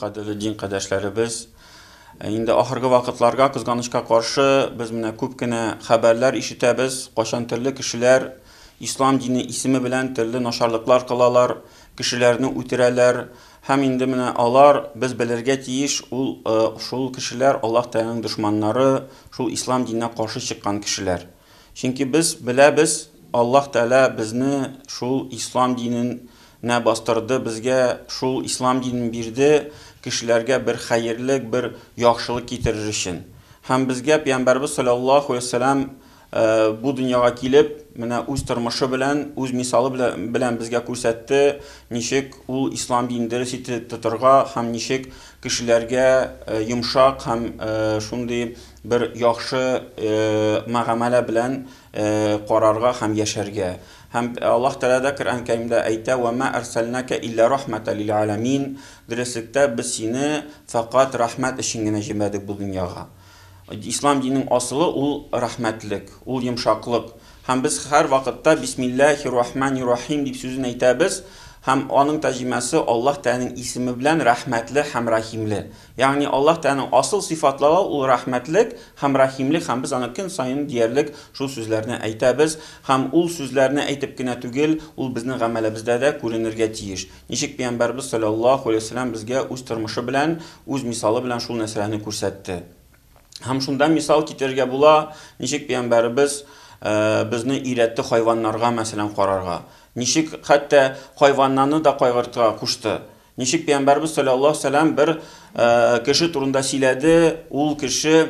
Кадерле дин кадәшләребез, э, инде ахыргы вакытларга кызганычка каршы без менә күп кенә хәбәрләр ишетәбез, кайчан төрле кешеләр ислам дине исеме белән төрле начарлыклар кылалар, кешеләрне үтерәләр, Һәм инде менә алар, без белергә тиеш, ул шул кешеләр, Аллаһ Тәгаләнең дошманнары, шул Ислам диненә каршы чыккан кешеләр. Чөнки без беләбез, Аллаһ Тәгалә безне шул Ислам динен нә бастырды, безгә шул Ислам динен бирде, кешеләргә бер хәерлек, бер яхшылык китерер өчен. Һәм безгә Пәйгамбәребез салләллаһу галәйһи вә сәлләм Бу дөньяга килеп, менә үз тормышы белән, үз мисалы белән безгә күрсәтте, ничек ул ислам динен дөрес итеп тотырга һәм ничек кешеләргә йомшак һәм шундый бер яхшы мөгамәлә белән карарга һәм яшәргә. Һәм Аллаһ Тәгалә дә Коръән Кәримдә әйтә, Вә мә әрсәлнәкә илля рахмәтәл лил әләмин, Дөреслектә, без сине фәкать рәхмәт өчен генә җибәрдек бу дөньяга. Ислам диненең асылы ул рәхмәтлек, ул йомшаклык. Һәм без һәр вакытта Бисмилләһи рахмани рахим дип сүзен әйтәбез, һәм аның тәрҗемәсе Аллаһ Тәгаләнең исеме белән рәхмәтле һәм рәхимле. Ягъни Аллаһ Тәгаләнең асыл сыйфатлары ул рәхмәтлек һәм рәхимлек һәм без аны көн саен диярлек шул сүзләрне әйтәбез, һәм ул сүзләрне әйтеп кенә түгел, ул безнең гамәлебездә дә күренергә тиеш. Ничек Пәйгамбәрбез салләллаһу галәйһи ва сәлләм безгә үз тормышы белән, үз мисалы белән шул мәсьәләне күрсәтте? Һәм шунда мисал китерергә була, ничек Пәйгамбәрбез безне өйрәтте хайваннарга, мәсәлән, карарга. Ничек хәтта хайваннаны да кайгыртырга кушты. Ничек Пәйгамбәрбез салләллаһу галәйһи ва сәлләм бер кеше турында сөйләде, ул кеше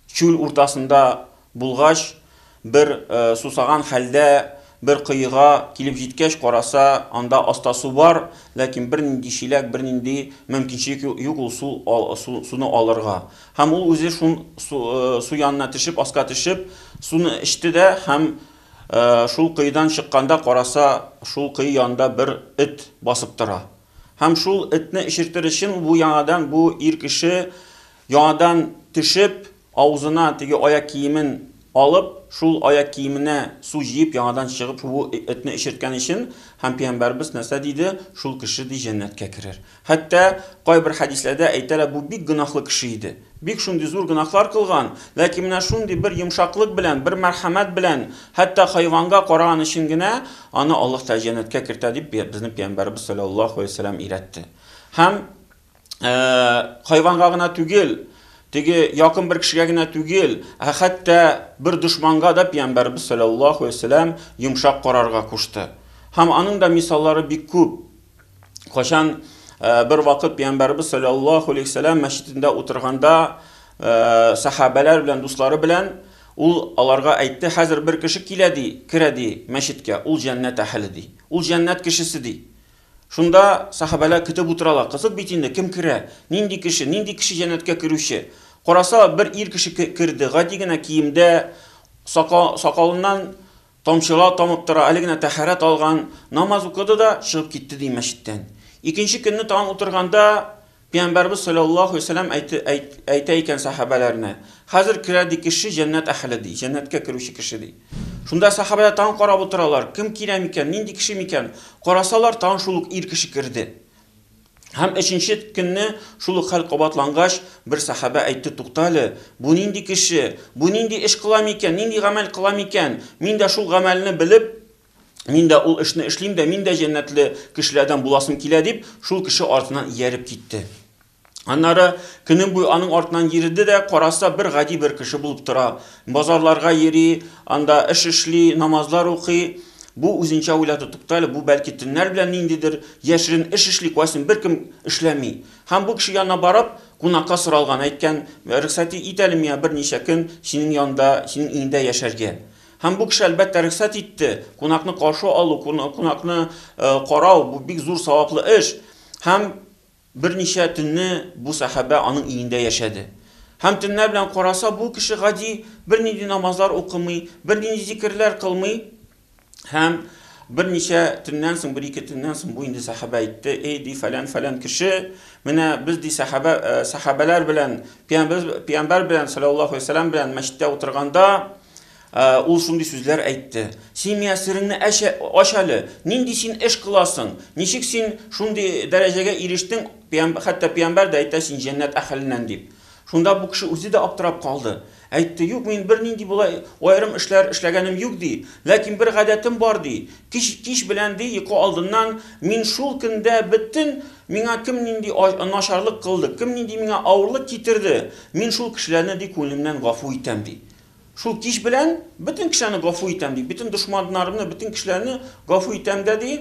Чүл уртасында булгач, бер сусаган хәлдә бер коега килеп җиткәч караса, анда аста су бар, ләкин бернинди чиләк, бернинди мөмкинчелек юк ул суны алырга. Һәм ул үзе шун су янына төшеп, аска төшеп, суны эчте дә һәм шул коедан чыкканда караса, шул кое янында бер эт басып тора. Һәм шул этне эчертер өчен бу яңадан бу ир кеше Яңадан төшеп, авызына теге аяк киемен алып, шул аяк киеменә су җыеп, яңадан чыгып, бу этне эчерткән өчен, һәм Пәйгамбәребез нәрсә диде, шул кеше, ди, җәннәткә керер. Хәтта кайбер хәдисләрдә әйтәләр, бу бик гөнаһлы кеше иде. Бик шундый зур гөнаһлар кылган, ләкин менә шундый бер йомшаклык белән, бер мәрхәмәт белән, хәтта хайванга караган өчен генә аны Аллаһ Тәгалә җәннәткә кертә, дип безнең Пәйгамбәребез салләллаһу галәйһи вә сәлләм өйрәтте. Һәм. хайванга гына түгел, теге якын бер кешегә генә түгел, ә хәтта бер дошманга да пиямбәрбез саллаллаху алейһи вәсәләм йомшак карарга кушты. Һәм аның да мисаллары бик күп. Качан бер вакыт пиямбәрбез саллаллаху алейһи вәсәләм мәчетендә утырганда сахабәләр белән дуслары белән ул аларга әйтте, хәзер бер кеше килә ди, керә ди мәчеткә, ул җәннәт әһеле ди. Ул җәннәт кешесе ди. Шунда сахабәләр көтеп утыралар, кызык бит инде, кем керә, нинди кеше, нинди кеше җәннәткә керүче? Карасалар, бер ир кеше керде, гади генә киемдә, сакалыннан тамчылар тамып тора, әле генә тәһарәт алган, намаз укыды да чыгып китте, ди, мәчеттән. Икенче көнне тагын утырганда, Пиямбәрбез салләллаһу вәссәлам әйтә икән сәхабәләренә, Хәзер керә, ди, кеше җәннәт әһеле, ди, җәннәткә керүче кеше, ди. Шунда сәхабәләр тагын карап утыралар, кем килә микән, нинди кеше микән? Карасалар, тагын шул ук ир кеше керде. Һәм өченче көнне шул ук хәл кабатлангач, бер сәхабә әйтте, Тукта әле, бу нинди кеше, бу нинди эш кыла микән, нинди гамәл кыла микән? Мин дә шул гамәлне белеп, Мин дә ул эшне эшлим дә, мин дә җәннәтле кешеләрдән буласым килә, дип, шул кеше артыннан ияреп китте. Аннары көнем буе аның артыннан йөрде дә, караса бер гади бер кеше булып тора. Базарларга йөри, анда эш эшли, намазлар укый. Бу үзенчә уйлады, тукта әле, бу бәлки төннәр белән ниндидер яшерен эш эшли, кайсын беркем эшләми. Һәм бу кеше янына барып, кунакка соралган, әйткән, рөхсәт ит әле миңа берничә көн синең янда, синең өеңдә яшәргә. Һәм бу кеше, әлбәттә, рөхсәт итте. Кунакны каршы алу, кунакны карау, бу бик зур саваплы эш. Һәм берничә төнне бу сәхабә аның өендә яшәде. Һәм төннәр белән караса, бу кеше гади, бернинди намазлар укымый, бернинди зикерләр кылмый. Һәм берничә төннән соң, бер-ике төннән соң бу инде сәхабә әйтте, Эй, ди, фәлән-фәлән кеше, менә без, ди, сәхабә, сәхабәләр белән, пиямбер, пиямбәр белән, саләллаһу галәйһи ва сәләм, белән мәчеттә утырганда, Ул шундый сүзләр әйтте. Син миңа сереңне ач әле. Нинди син эш кыласың? Ничек син шундый дәрәҗәгә ирештең? Хәтта пиямбәр дә әйтә син җәннәт әхеленнән дип. Шунда бу кеше үзе дә аптырап калды. Әйтте, юк, мин бернинди болай аерым эшләр эшләгәнем юк, ди. Ләкин бер гадәтем бар, ди. Кич белән, ди, йокы алдыннан мин шул көндә бөтен миңа кем нинди начарлык кылды, кем нинди миңа авырлык китерде, мин шул кешеләрне, ди, күңелемнән гафу итәм, ди. Шул кич белән бөтен кешене гафу итәм ди, бөтен дошманнарымны, бөтен кешеләрне гафу итәм дә ди,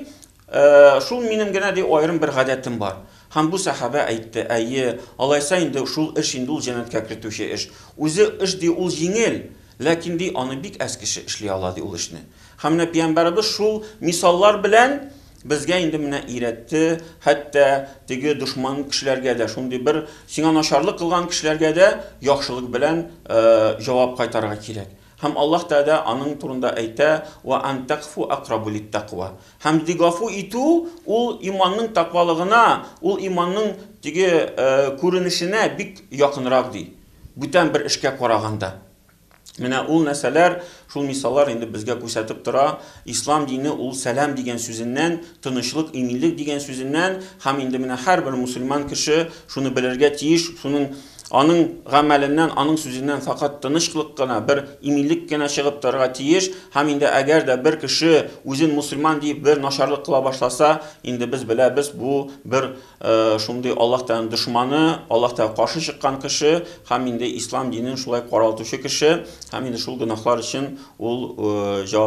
«Э, шул минем генә ди аерым бер гадәтем бар. Һәм бу сәхабә әйтте, әйе, алайса инде шул эш инде ул җәннәткә кертүче эш. Үзе эш ди ул җиңел, ләкин ди аны бик әз кеше эшли ала ди ул эшне. Һәм менә пиямбәребез шул мисаллар белән Безгә инде менә өйрәтте, хәтта теге дошман кешеләргә дә, шундый бер сиңа начарлык кылган кешеләргә дә яхшылык белән җавап кайтарырга кирәк. Һәм Аллаһ Тәгалә аның турында әйтә, Ва ан тәгъфу акърабу лит-тәкъва. Һәм ди гафу итү, ул иманның тәкъвалыгына, ул иманның теге күренешенә бик якынрак ди, бүтән бер эшкә караганда. Менә ул нәрсәләр, шул мисаллар инде безгә күрсәтеп тора, ислам дине ул сәлам дигән сүзеннән, тынычлык, иминлек дигән сүзеннән, һәм инде менә һәрбер мусульман кеше шуны белергә тиеш, шуның аның гамәленнән, аның сүзеннән факат тынычлык кына, бер иминлек кенә чыгып торырга тиеш, һәм инде әгәр дә бер кеше үзен мусульман диеп бер начарлык кыла башласа, инде без беләбез, бу бер Шундый Аллаһ Тәгаләнең дошманы, Аллаһ Тәгаләгә каршы чыккан кеше һәм инде ислам динен шулай каралтучы кеше һәм инде шул гөнаһлар өчен ул җавап